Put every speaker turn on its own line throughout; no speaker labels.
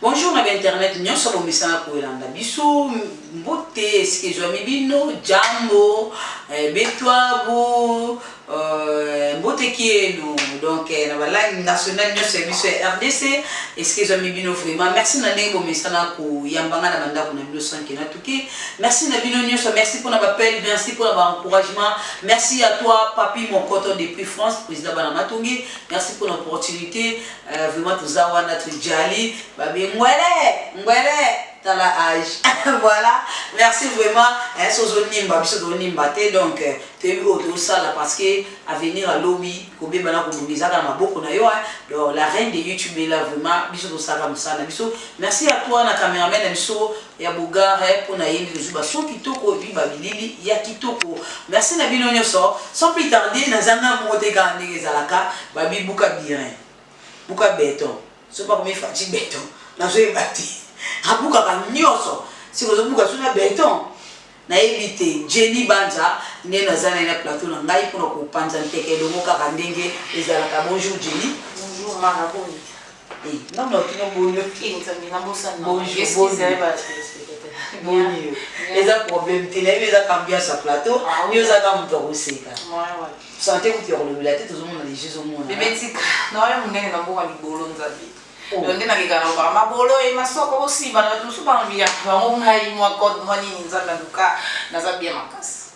Bonjour na
ba internet nionso bomesana kolanda biso mbote esika ezwami bino jambo eh, betwabu eh, mbote kienu donc eh, na balangue nationale nionso ya biso ya rdc esika ezwami bino vraiment merci na ndenge bomesana koyamba nga na bandako na bino sanke na tuki merci na bino nionso merci mpona bapele merci mpona baencouragement merci à toi papi mokoto depuis france président bana matongi merci mpona opportunité Eh, vraiment toza wana tujali babi ngwele ngwele tala age voilà merci vraiment eh, so ozonimba biso tozonimba te donc eh, toyebi oyo tozosala parce que avenir alobi kobeba na kobonga ezaka na maboko na yo eh. donc la reine de youtube ela vraiment biso tosalaka mosala na biso merci à toi na cameraman na biso ya bogare mpo na ye nde tozwi bason kitoko epi babilili ya kitoko merci na bino nyonso sans plus tarde naza nga moko te kaka ndenge ezalaka babi buka birin buka beton so bakomi faci beton nazoyeba te abukaka nyonso sikozobuka so na beton Nayebi te Jenny Banza nde naza naye na plateau na ngai pona ko panza nteke elongo kaka ndenge ezalaka bonjour Jenny. Bonjour Mara boni.
Eh nga mutu
atuni yo boni yo. Eh nzambe na bosani na ngai excuse naye ba telespectateurs. Boni yo eza problème te nayebi eza qu'ambiance ya plateau yo oza kaka mutu ya koseka. Ouais ouais. Sante kutu ya kolobela te tozo mona dejà ezo monana. Bebe tika naoya
munene na mboka libolo nzambe. donc nde nalingaka nalobaka maboloi masoko bosiba na bato mosusu balobi ya bango ngai mwa code mwa nini nzambe aluka naza bien makasi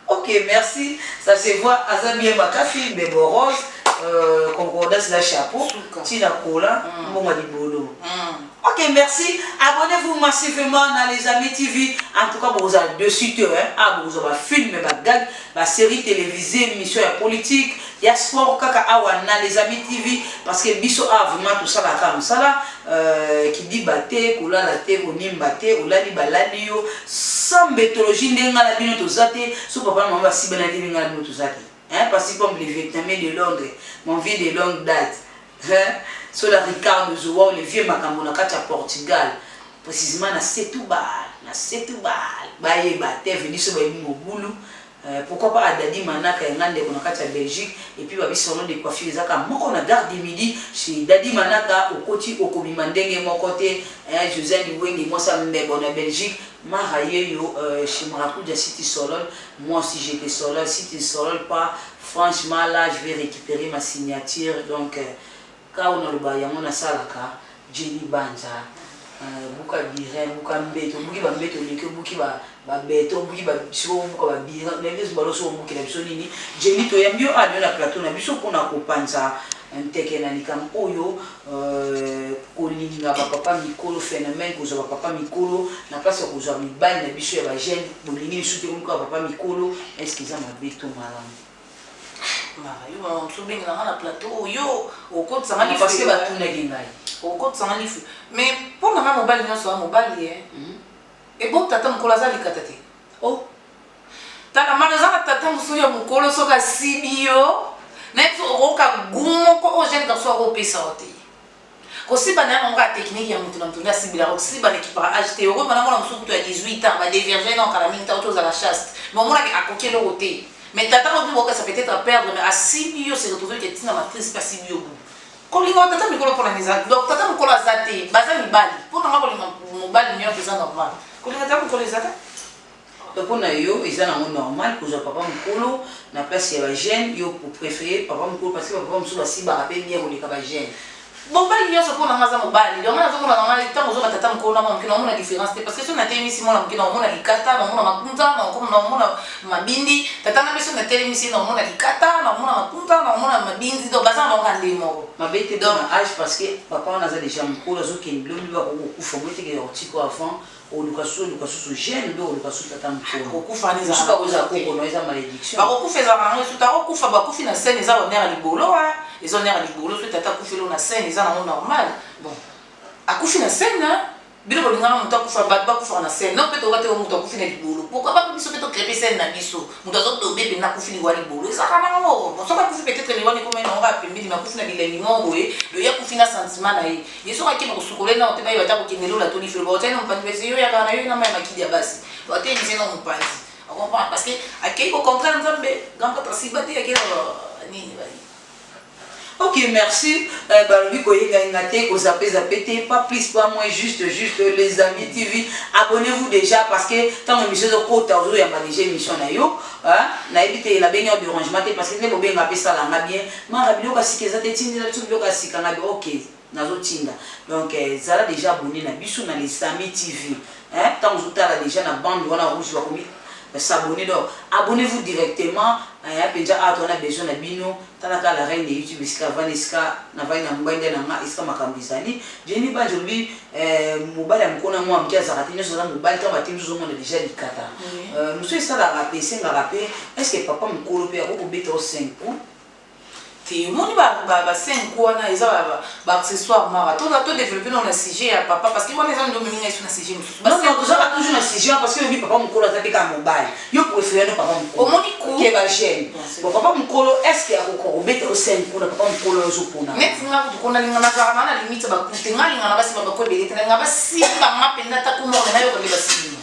ok
merci ça se voit aza bien makasi bebo rose euh, concordance na chapeau ntina kola mm. mbongo ya libolo mm. ok merci abonnez-vous massivement na les amis tv en tout cas bokozala dessus te hein? ah bokozwa bafilme bagag basérie télévisée émission ya politique ya sport kaka awa na les amis tv parce que biso awa vraiment tosala kaka mosala euh, kidiba te kolala te konimba te olali balali yo sans mbetologie nde ngai na bino toza te so papa na mama basibana te nde ngai na bino toza te hein, parce que comme le vietnamien de londres mon vieux de longue date hein, so la ricardo zowa le vieux makambo na kati ya portugal précisément na setubal na setubal bayeba te veniso bayebi mobulu Euh, pourquoi pas Adadi Manaka yanga ndeko na kati ya Belgique et puis babi salon de coiffure ezaka moko na garde du midi chez Dadi Manaka okoti okobima ndenge moko te hein Josiane Liwenge moi ça mbebo na Belgique mara yeyo euh, chez Maracuja City Solol moi aussi j'étais Solol City Solol pas franchement là je vais récupérer ma signature donc euh, Kao naloba yango nasalaka Jenny Banza euh, buka birin buka mbeto obuki ba mbeto oleki obuki ba ba beto obuki ba siko obuka ba birin na biso balo so obuki na biso nini Jenny to yambi yo a ah, na plateau na biso pona ko panza nteke na likambo oyo euh, kolinga bapapa mikolo phénomène kozwa bapapa mikolo na place ya kozwa mibali na biso ya bagene bolingi lisusu te komikoya papa mikolo est ce que eza mabe to malamu
Mara, yo maman mosusu obengela nga na plateau oyo okotisa nga life. Parce que batunaki ngai.
Okotisa nga life.
Mais mpo na nga mobali nyonso ya mobali ye. Hmm. Ebo tata mokolo aza likata te. Oh. Tata mara eza na tata mosusu ya mokolo soki asibi yo. Nayebisa okoka gu moko oyo jeune garçon akopesa yo te. Kosiba na yango kaka technique ya mutu na mutu nde asibila ko siba na ekipaka age te okoyeba na mwana mosusu kutu ya 18 ans ba devierge na kala mingi ta oto ozala chaste mais omonaki akoki eloko te mais tata oyo bino bokesa peut-être à perdre mais asibi yo se retrouver que tina matrice pe asibi yo boye kolinga tata mikolo mpona nini eza donc tata mokolo aza te baza mibali mpo na nga kolinga mobali nyonso eza normal kolinga tata mokolo eza te Donc pona
yo eza nango normal kozua papa mukolo na place ya ba jeune yo o prefere papa mukolo parce que ba papa mususu ba sibaka pe bien koleka ba jeune. Mobali nionso
pona nga aza mobali donc nga nazo mona na ngai tango ozoka tata mukolo na mwana muke nao mona difference te parce que soki na telemisi mwana muke nao mona likata nao mona makunza nao mona mabindi tata nga pe soki na telemisi ye nao mona likata nao mona makunza nao mona mabindi donc baza bango kaka ndenge moko mabe te pona age
parce que papa wana aza dejà mukolo azo kende lobi ba koki ko kufa boye te ke ya ko tika yo avant oluka susu oluka susu gene nde oluka susu tata
mokonokokufa
ezalaka yango
esuta akokufa bakufi na scène eza honere ya libolo wa eza honere ya libolo soki tata akufi elo na scène eza nango normal bon akufi na scène bino bolingaka moto akufa bato bakufaka na scène no mpe toyoka te moto akufi na libolo pourkoi bape biso mpe tokrepe scène na biso moto azodobe mpenza akufi liwa libolo ezalaka nango soki akufi peut-être liwa likomai nango bapembeli makufi na bilengi moko boye loye akufi na sentiment na ye ye soki akima kosukola ye nao mpe bayeba ata kokende lola to lifelo baotia na mopanzi pese yo yakaka na yo na mai makidi ya basi baotelemi se na mopanzi okomprendre parce que akei kocontraire nzambe grand prêtre asiba te akei nini bali ok
merci euh, balobi koyengayenga te kozapezape te pas plus pas moins juste juste les amis tv abonnez-vous déjà parce que ntango émission ezokota ozoyamba déjà émission na yo nayebi te nabengi yo derangement te parce que nde bobenga mpe esalanga bien Mara biloko ya sika eza te tindela biso biloko ya sika ngabi ok nazotinda donc eh, zala deja abonne na biso na les amis tv eh, ntango ozotala deja na bande wana rouge bakomi s'abonner donc abonnez-vous directement aya mpenza awa toza na besoin na bino talaka la reine ya youtube esika avandi esika navandi na ngbende na nga esika makambo ezali jeni banje olobi eh, mobali ya mokona mwa moke azalaka te nyonso aza mobali ntango batimi tozomona deja likata euh, mosusu esalaka mpe esengaka mpe estce papa mokolo mpe akoki kobeta o 5 po te
omoni ba ba ba scène ko wana eza ba ba accessoires mara to to développer na sujet ya papa parce que wana eza ndomi ninga isu na sujet mususu ba scène kozaka toujours
na sujet parce que oyebi papa mukolo aza te ka mobali yo préfère no papa mukolo omoni ko ke ba jeune bon papa mukolo est ce que akoko obeta o scène kuna papa mukolo ozo pona net nga ko kona linga
na zara na limite ba kute nga linga na basi ba ko ebele te nga ba simba nga penda ta ko mona na yo ko ba simba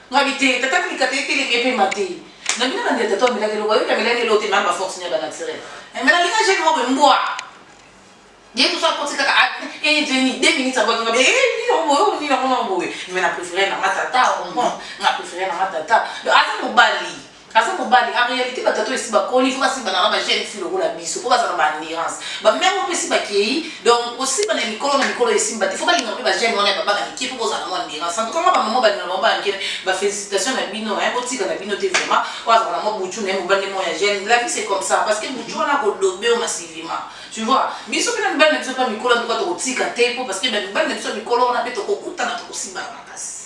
Ngabi te tata ko likata ye telemi epema te na bino na ndela tata amelaki eloko ayoki amelaki eloko te mama ba force nia ba naturel eh, mais nalinga jeune moko mbwa ye tout ça koti kaka e jeni deux minutes abwaki ngabi e nini yango boye oyo nini yango nango boye mais na préféré nanga tata omo nga préféré nanga tata aza mobali aza mobali en réalité batata oyo esi bakoli ifo basiba nanga bajeune fille lokola biso mpo bazala ba endurance bamere mpe esi bakei donc kosiba na mikolo na mikolo esimba te fo balinga mpe bajeune wana ya babana mike mpo bozala mwa endurance en tout cas mwa bamama balinga bango bankele bafélicitation na bino hein botika na bino te vraiment oyo azala mwa butu na ye mobali mwa ya jeune la vie c'est comme ça parce que butu wana akodobe yo masivima tu vois biso mpe na mibali na biso mpe mikolo en tout cas tokotika te mpo parce que mibali na biso mikolo wana mpe tokokutana tokosiba makasi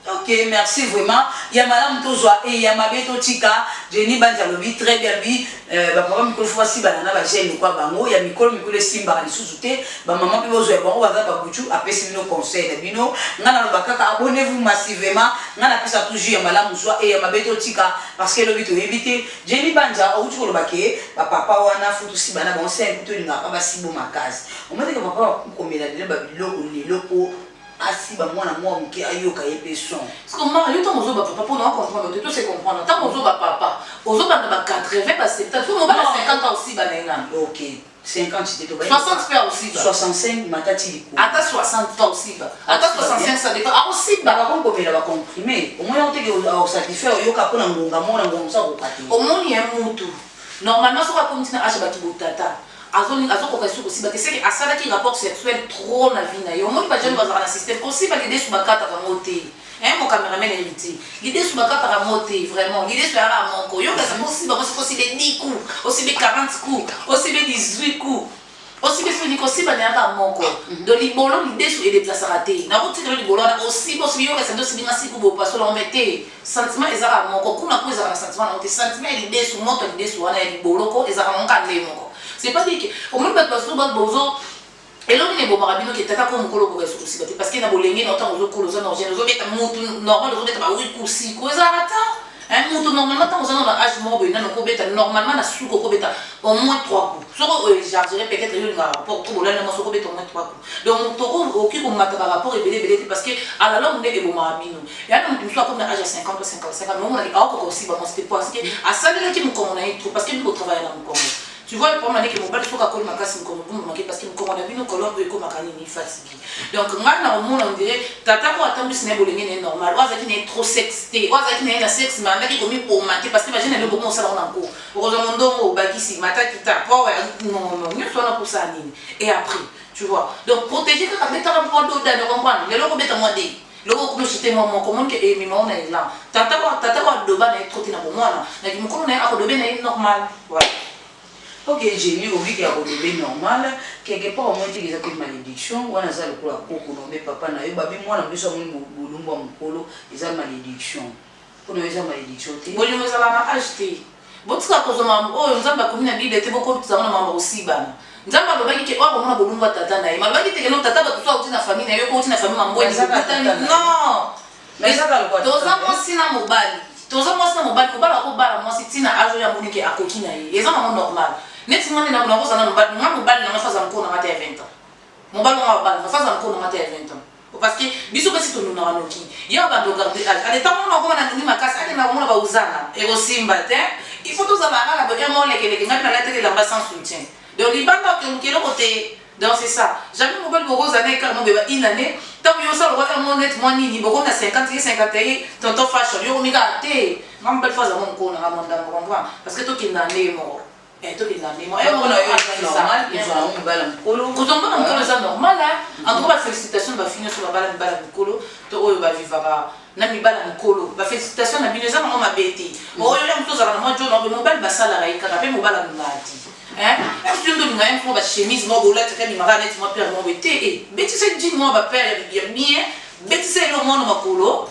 Ok merci vraiment ya malamu tozwa e ya mabe totika Jenny Banzi alobi très bien alobi euh, bapapa mikolo fo basibana na bagene lokwa bango ya mikolo mikolo esimbaka lisusu te bamama mpe bozwa ya bango baza babutu apesi bino conseil na bino ngai naloba kaka abonnez-vous massivement ngai napesa toujours ya malamu zwa e ya mabe totika parce que elobi toyebi te Jenny Banzi auti koloba ke bapapa wana fo tosibana bango se tolinga kaka basibo makasi omateke papa komela lelo babiloko lelo po asiba mwana mwa moke ayoka ye mpe son siko mara yo ntango
ozoba papa mpona ocomprendre te to se comprendre ntango ozoba papa ozobanda ba 80 ba 70 so mobala 50 ans osiba na ye nani ok 50 te
to 60 mpe osiba 65
matati
likolo ata 60 ta
osiba ata 65 ça dépend akosiba bakokomela ba
comprime omoni yango teke osatisfaire oyoka mpo na ngonga mona ngonga mosa koka te omoni ya mutu
normalement soki akomi ntina age bato botata azo azo koka lisusu kosiba te seke asalaki rapport sexuel trop na vie na ye omoni bajane bazalaka na système kosiba lidesu bakataka ngo te hein mon cameraman héritier lidesu bakataka ngo te vraiment lidesu yaka moko yo kaza kosiba ngo soki osibe 10 coup osibe 40 coup osibe 18 coup osibe fini kosiba na yaka moko do libolo lidesu edeplasaka te nakotikelo libolo wana osiba osibi yo kaza nde osibi nga siku bopasola ombe te Sentiment eza kaka moko kuna po ezalaka na sentiment nango te sentiment ya lidesu moto ya lidesu wana ya liboloko ezalaka nango kaka ndenge moko c'est pas dire que omoni bato bazo bato bozo eloko nini ebomaka bino ke tata ko mokolo okoka esuku sika te parce que na bolenge na otango ozokola oza norgene ozobeta motu normal ozobeta bawi kusiku ezalaka ta Eh, moto normalement ntango ozana na age moko boye nano kobeta normalement na suki okobeta au moins 3 coups soki oechargere peut-être yo olingaka rapport to bolali na mwasi okobeta au moins 3 coups Donc moto oyo okoki komata ba rapport ebele ebele te parce que à la longue nde ebomaka bino. Y'a na moto mosusu akomi na âge ya 50 ou 55 ans mais omona ke aokoka kosiba mwasi te parce que asalelaki mokongo na ye trop parce que bino botravaillaka na mokongo. Tu vois le problème andeke mobali soki akoli makasi mokongo ebombama ke parce que mokongo na bino colonne oyo ekomaka nini fatigue. Donc ngai na omona on dirait tata oyo atambwisi na ye bolenge na ye normal oyo azalaki na ye trop sexe te oyo azalaki na ye na sexe mais andaki komiboma te parce que ba jeune na bino bokomi kosala ngo na nko okozwa mondongo obakisi mata kita power non non nyonso wana mposa ya nini. et après tu vois donc protéger kaka betaka mwa doda na comprendre lelo kobeta mwa de loko okomi osute mwa moko omoni ke emema ona elan tata wa tata wa doba na ye troti na bomwana na kimokolo na ye akodobe na ye normal voilà ok
jeli obi ke akodobe normal quelque part omoni teke eza mpe malédiction wana aza lokola koko na obe papa na yo babi mwana biso amoni bolumbu ya mokolo eza malédiction Kuna yo eza malediction te. Bolingo ezalaka na
age te. Botika kozwa mambo oyo Nzambe akomi na Bible te bokotisa yango na mambo ya kosibana. Nzambe alobaki ke oyo akomona bolumbu ya tata na ye. Ma alobaki te ke no tata bato so auti na famille na yo ko auti na famille mambo eni bokutani. Non! Toza mwasi na mobali. Toza mwasi na mobali kobala ko bala mwasi ti na age oyo amoni ke akoki na ye. Eza nango normal. Neti nga nde nako nakozala na mobali nga mobali na nga so aza mokolo na nga ata ya 20 ans. Mobali mwa babala na faza mkono mata ya 20 ans. Oh, parce que biso pesi tonunaka noki. Yo abando garde age. Ale tango mona koma na nuni makasi ake na komona ba uzana. Eko simba te. Il faut toza ba kala boye mo leke leke ngapi na late ke lamba sans soutien. Donc libanda ke mukelo ko te. Donc c'est ça. Jamais mobali boko zana ekala mo beba une année. Tango yo sala wata mo net mo nini boko na 50 ye 51 tonton fashion yo komika te. Ngam belle fois za mo mkono na ngam ndambo comprendre. Parce que to kinda ndenge moko. Eh, tokenda mema Oyo moko na yo eza normal kozwa yango mobala mokolo kozwa mobala mokolo eza normal eh. en tout cas ba félicitation na bafi nyonso babala mibala mokolo to oyo bavivaka na mibala mokolo ba félicitation na bino eza nango mabe te mm. oyo ya moto ozalaka na mwa jona obe mobali basalaka ye kaka mpe mobala mongadi yo nde olinga ye mpo bachemise moko olataka bimaka neti mwa pere moko te eh, betisa jine mwa bapere ya bien betisa eloko mwana makolo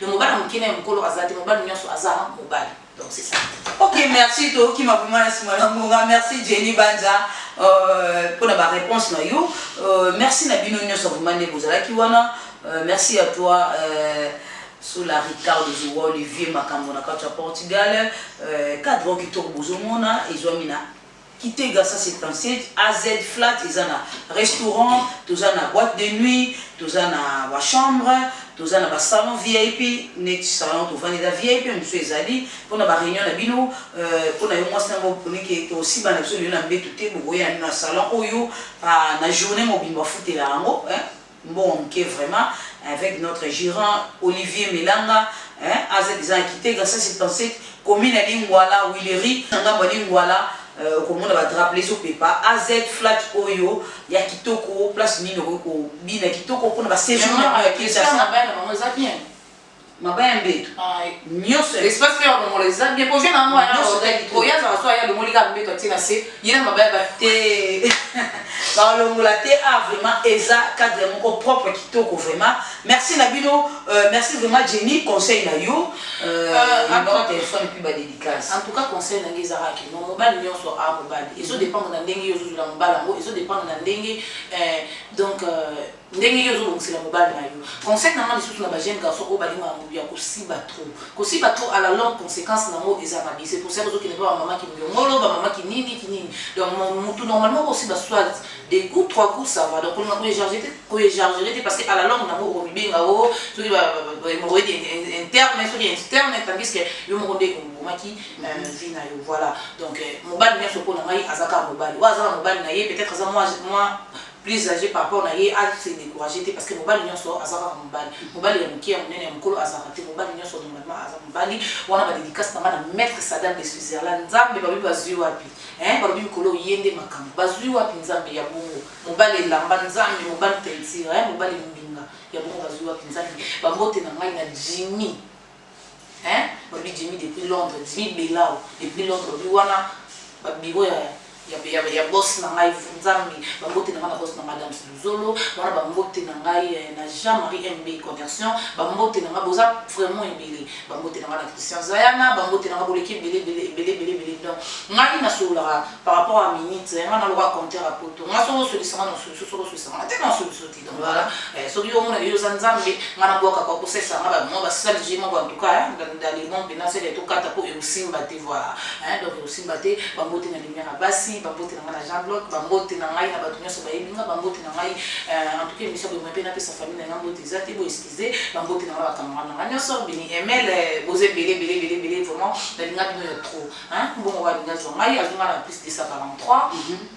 Mais mobali mukie naye mukolo aza te mobali nionso aza mobali donc c'est ça. Ok, merci
Toki Mabumana Simona Munga, merci Jenny Banza euh, pour la réponse na yo. Euh, merci Nabino Nyoso Vumane Bozala Kiwana. Euh, merci à toi euh, sous la Ricardo Zouwa Olivier Makambo na Kacha Portugal. Euh, cadre qui tourne Bozomona et Zouamina. Kitega 177 AZ flat eza na restaurant, toza na boite de nuit, toza na ba chambre, toza na ba salon vip neti salon tovandi eza vip mosusu ezali pona ba reunion na bino euh, pona yo mwasi nango oponi ke tosiba na biso lelo na mbetu te bokoya na salon oyo ah, na journée mobimba ofutela yango eh? Mbongo muke vraiment avec notre gerant Olivier Melanga hein aza dejà na Kitega 177 commune ya Lingwala Huilerie na ngambo ya Lingwala euh, okomona ba drapeau ezo pepa AZ flat oyo ya kitoko place nini okoki kobina kitoko mpona ba séjour na bino ya Kinshasa.
mabaya
mbeto nyonso espace mpe balongola
eza bien po jeune yango oya azala so aya alongoli kaka mbeto atie na se ye na mabaya ba te
balongola te a ah, vraiment eza cadre moko propre kitoko vraiment merci na bino euh, merci vraiment jenny conseil na yo euh, euh, téléphone mpe badédicace en tout cas conseil nange
ezalaka kino mobali nyonso a ah, mobali ezo dépendre na ndenge yo ozozwela mobali yango ezo dépendre na ndenge donc Ndenge yo ozo bongisela mobali na yo. Conseil na nga lisusu na ba jeunes garçons oyo balingaka mutu ya kosiba trop. Kosiba trop à la longue consequence na ngo eza mabe. C'est pour cela ozo kende epa ba maman kimbiongolo, ba maman kinini, kinini. Donc mutu normalement oko siba soit deux coups, trois coups ça va. Donc olinga ko ejarger te, ko ejarger te parce que à la longue na ngo oko mibenga o soki ba hemorroïde interne, soki externe tandis que yo moko nde obomaki vie na yo. Voilà. Donc mobali nionso po na ngai aza kaka mobali. Oyo aza na mobali na ye peut-etre aza mua mua plus age par rapport na ye a se decourager te parce que mobali nionso aza kaka mobali mobali ya mukie ya munene ya mukolo azalaka te mobali nionso normalement aza mobali wana ba dedicace na nga na maître sadam de switzerland nzambe balobi bazui wapi hein balobi mikolo oye nde makambo bazui wapi nzambe ya bongo mobali elamba nzambe mobali teinture hein mobali mbinga ya bongo bazui wapi nzambe bambote na ngai na jimmy Hein olobi Jimmy depuis Londres Jimmy belao depuis Londres olobi wana ba bureau ya ya ya ya boss na ngai nzambi ba mbote na ngai na boss na madame Luzolo wana ba mbote na ngai eh, na Jean Marie MB conversion ba mbote na ngai boza vraiment ebele ba mbote na ngai na Christian Zayana ba mbote na ngai boleki ebele ebele ebele ebele ebele donc ngai na sololaka par rapport à minute ngai na loka compteur à poto ngai soko solisanga na solution soko solisanga te na solution Voilà. Eh, soki yo omona yo oza nzambe nga nabwaka kwa kosesa nga bamwa basali zwi moko antuka ndalimo mpena sele tokata mpo ekosimba te voilà eh, donc ekosimba te bambote na limia na basi bambote na ngai na jean bloc bambote na ngai na bato nyonso bayebi nga bambote na ngai eh, antuka emission boyema mpe napesa famille na ngai mbote eza te boeskize bambote na ngai bakamara na ngai nyonso bini emel boza ebele ebele ebele ebele vraiment nalinga bino ya trop mbongo walinga zwa ngai azonga na plus 243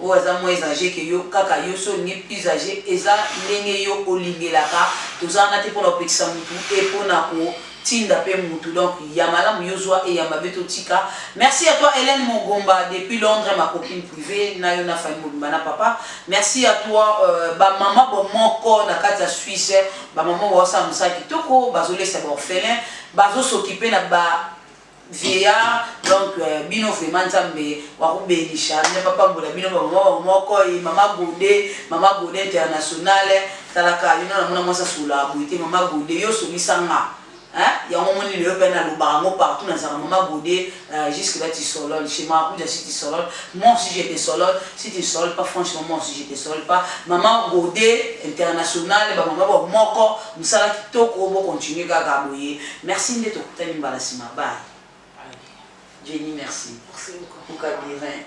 Oyo aza moins age que yo kaka yo soki olingi plus age eza ndenge yo olingelaka toza wana te pona kopekisa mutu et pona ko tinda pe mutu donc ya malamu yo zwa et ya mabe to tika merci à toi Helène Mogomba depuis Londres ma copine privee na yo na famille mobimba na papa merci à toi euh, ba maman bo moko na kati ya Suisse ba maman ba osala musala kitoko bazo lesa ba orphelin bazo s'occuper na ba vieillard donc euh, bino vraiment nzambe wakubenisha nzambe apambola bino bamama bango moko ye mama gode mama gode internationale talaka bino namona mwasi asola boye te mama gode yo osolisa nga yango moni lelo mpe nalobaka yango partout nazalaka mama gode euh, jusque là tisolol chez marakuja si tisolol moi aussi je tisolol si tisolol pas franchement moi aussi je tisolol pas mama gode internationale bamama bamoko mosala kitoko bocontinue kaka boye Merci nde tokutani mbala sima bye. Jenny merci.
Merci
beaucoup. Luka birin.